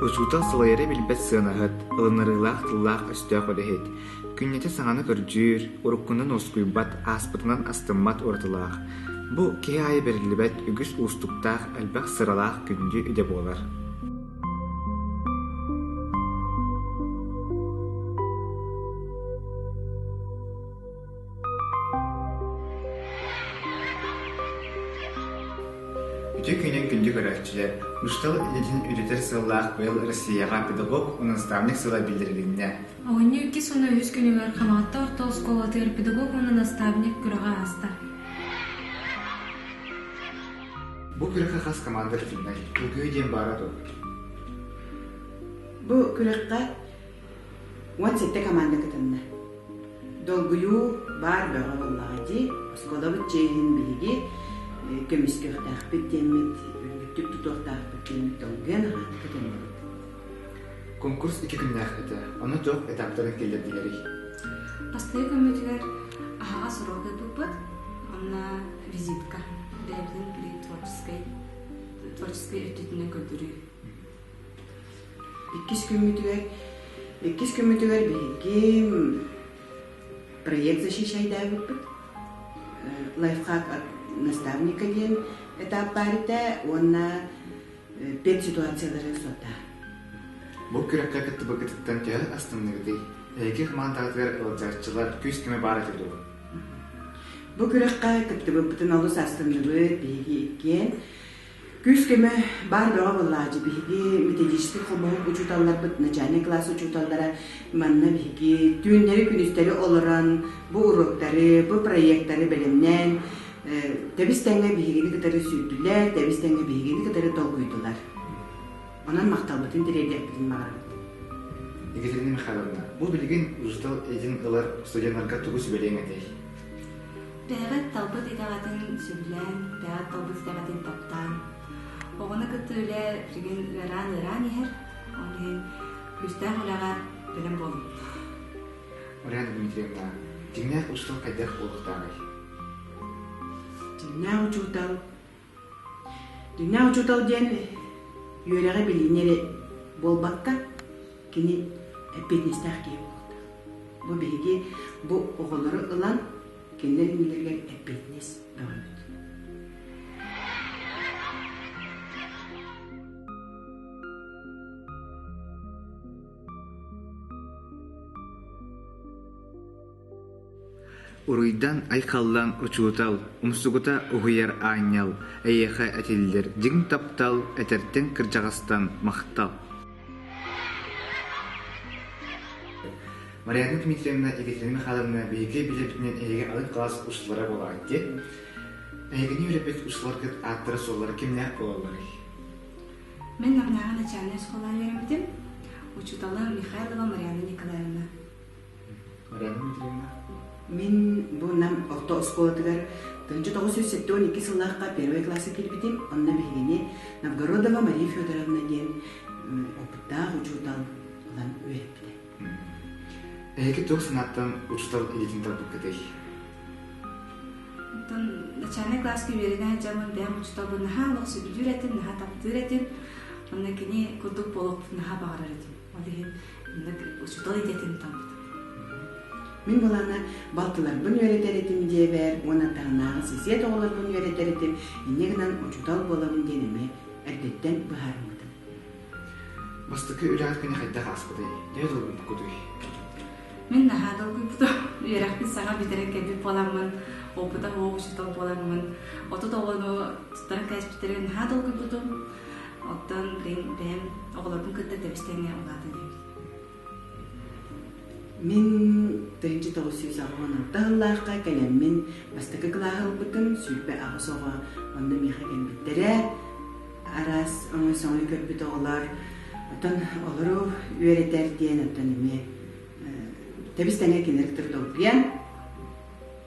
Учуутал салайара билбэт сыанаһыт, ылынарыылаах тыллаах-өстөөх үлэһит, күннэтэ саҥаны көрдүүр, уруккунан уоскуйбат, ааспытынан астыммат уратылаах. Бу киһи аайы бэриллибэт үгүс уустуктаах, элбэх сыралаах күндү идэ буолар. Ити күнүн күндү көрөөччүлэр Устал идэтин үтэтэр сыллаах быйыл Россияҕа педагог наставник сыла биллэрилиннэ. Оҕонньор иккис уонна үһүс күнүгэр Хамаатта орто оскуолатыгар педагог уонна наставник күрэҕэ ааста. Бу күрэххэ хас команда кытыннай? Ылгыы диэн баара дуо? Бу күрэххэ Уон сэттэ команда кытынна. Долгуйуу баар бөҕө буоллаҕа дии, оскуолабыт чиэһин биһиги көмүскүөхтээхпит диэммит, үрдүктүк тутуохтаахпыт диэммит долгуйан аһаат кытынныбыт. Конкурс икки күннээх этэ. Аны дьон этаптарын киллэрдилэрий? Бастакы күммүтүгэр аһаҕас уруок ыыппыппыт. Онно визитка, бэйэбитин творческай, творческай өттүтүнэн көрдөрүү. Иккис күммүтүгэр иккис күммүтүгэр биһиги проект защищайдаабыппыт. Лайфхак наставника диэн этап баар этэ уонна педситуациялары сотта. Бу күрэххэ кыттыбыккытыттан төһө астынныгытый? Эһиги хамаандаҕытыгар ыалдьааччылар күүс-көмө баар этэ дуо? Бу күрэххэ кыттыбыппытын олус астынныбыт, биһиги иккиэн Күүс-көмө баар бөҕө буоллааччы. Биһиги методическай хомуһу учууталларбыт, начальнай кылаас учууталлара манна биһиги түүннэри-күнүстэри олорон, бу уруоктары, бу проектары бэлэмнээн, тэбис-тэҥҥэ биһигини кытары сүүрдүлэр, тэбис-тэҥҥэ биһигини кытары долгуйдулар. Онон махталбытын тириэрдиэхпитин баҕарабыт. Екатерина Михайловна, бу билигин учуутал этин ылар студеннарга тугу сүбэлиэҥ этэй? Тэһэҕэт талбыт итэҕэтин сөбүлээн, тэҕэт талбыт итэҕэтин таптаан, оҕону кытта үлэ сигин ыараан-ыараан иһэр. Ол иһин күүстээх үлэҕэ бэлэм буолун. Марьяна Дмитриевна, дьиҥнээх устан хайдах буолуохтааҕый? Дьиҥнээх учуутал Дьиҥнээх учуутал диэн үөрэҕи билиини эрэ буолбакка, кини эппиэтинэстээх киһи буолуохтаах. Бу биһиги бу оҕолору ылан кинилэр иннилэригэр эппиэтинэс бөҕөбүт. Уруйдан айхаллаан учуутал, умсугута уһуйар аанньал, эйиэхэ этиллэр дьиҥ таптал этэртэн кырдьаҕастан махтал Марьяна Дмитриевна Екатерина Михайловна биһиги билэрбитинэн эһиги алын кылаас устулара буолаҕыт диэн эһигини үөрэппит устуларгыт ааттара-суоллара кимнээх буолалларый? Мен Намнааҕы начальнай оскуолаҕа үөрэммитим учуутала Михайлова Марьяна Николаевна Мин бу Нам орто оскуолатыгар тыһыынча тоҕус сүүс сэттэ уон икки сыллаахха первый класса киирбитим. Онно биһигини Новгородова Мария Федоровна диэн опыттаах учуутал ылан үөрэппитэ. Эһиги туох санааттан учуутал идэтин талбыккытый? Оттон начальнай класска үөрэнэ дьомун бэйэм учууталбын наһаа олох сөбүлүүр этим, наһаа таптыыр этим. Онно кини курдук буолуохпун наһаа баҕарар этим. От иһин учуутал идэтин талбыта. Мин балана балтыларбын үөрэтэр этим диэбэр уонна таһынааҕы сисиэт оҕолорбун үөрэтэр этим, инньэ гынан учуутал буолабын диэн эмиэ эрдэттэн быһаарыммытым. Бастакы үлэҕит күнэ хайдах ааспытай? Төһө долгуйбуккутуй? Мин наһаа долгуйбутум. Үөрэхпин саҥа бүтэрэн кэлбит буоламмын, опыта оҕо учуутал буоламмын, отут оҕону тутары кээспиттэрин наһаа долгуйбутум. Оттон билигин бэйэм оҕолорбун кытта тэбистэҥҥэ улаатан Мин тыһыынча тоҕус сүүс аҕыһын орто сыллаахха кэлэммин бастакы кылааһы ылбытым сүүрбэ аҕыс оҕо онно миэхэ кэлбиттэрэ араас өҥө-сөҥө көрбүт оҕолор оттон олору үөрэтэр диэн оттон эмиэ тэбис тэҥҥэ кинилэр трудолгия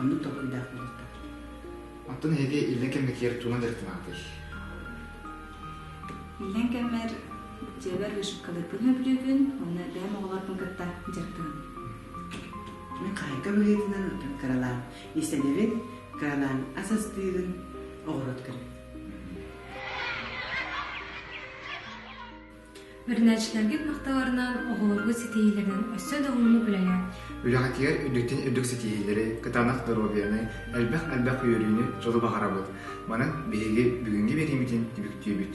Оннук толкуйдаах буолуохтаах. Оттон эһиги иллэҥ кэмҥитигэр тугунан дьарыктанаҕытый? Иллэҥ кэммэр дьиэбэр вышивкалыырбын өйдүүбүн уонна бэйэм оҕолорбун кытта дьарыктанабын. Мин хаайка быһыытынан отон кыралаан иистэнэбин, кыралаан ас астыырын, оҕуруот көрүн. Үөрэнээччилэргит махталларынан оҕолорго ситиһиилэрин өссө да уһуннук үлэлээт, Үлэҕитигэр үрдүтүн үрдүк ситиһиилэри, кытаанах доруобуйаны, элбэх-элбэх үөрүүнү дьолу баҕарабыт. Манан биһиги бүгүҥҥү биэриибитин түмүктүүбүт.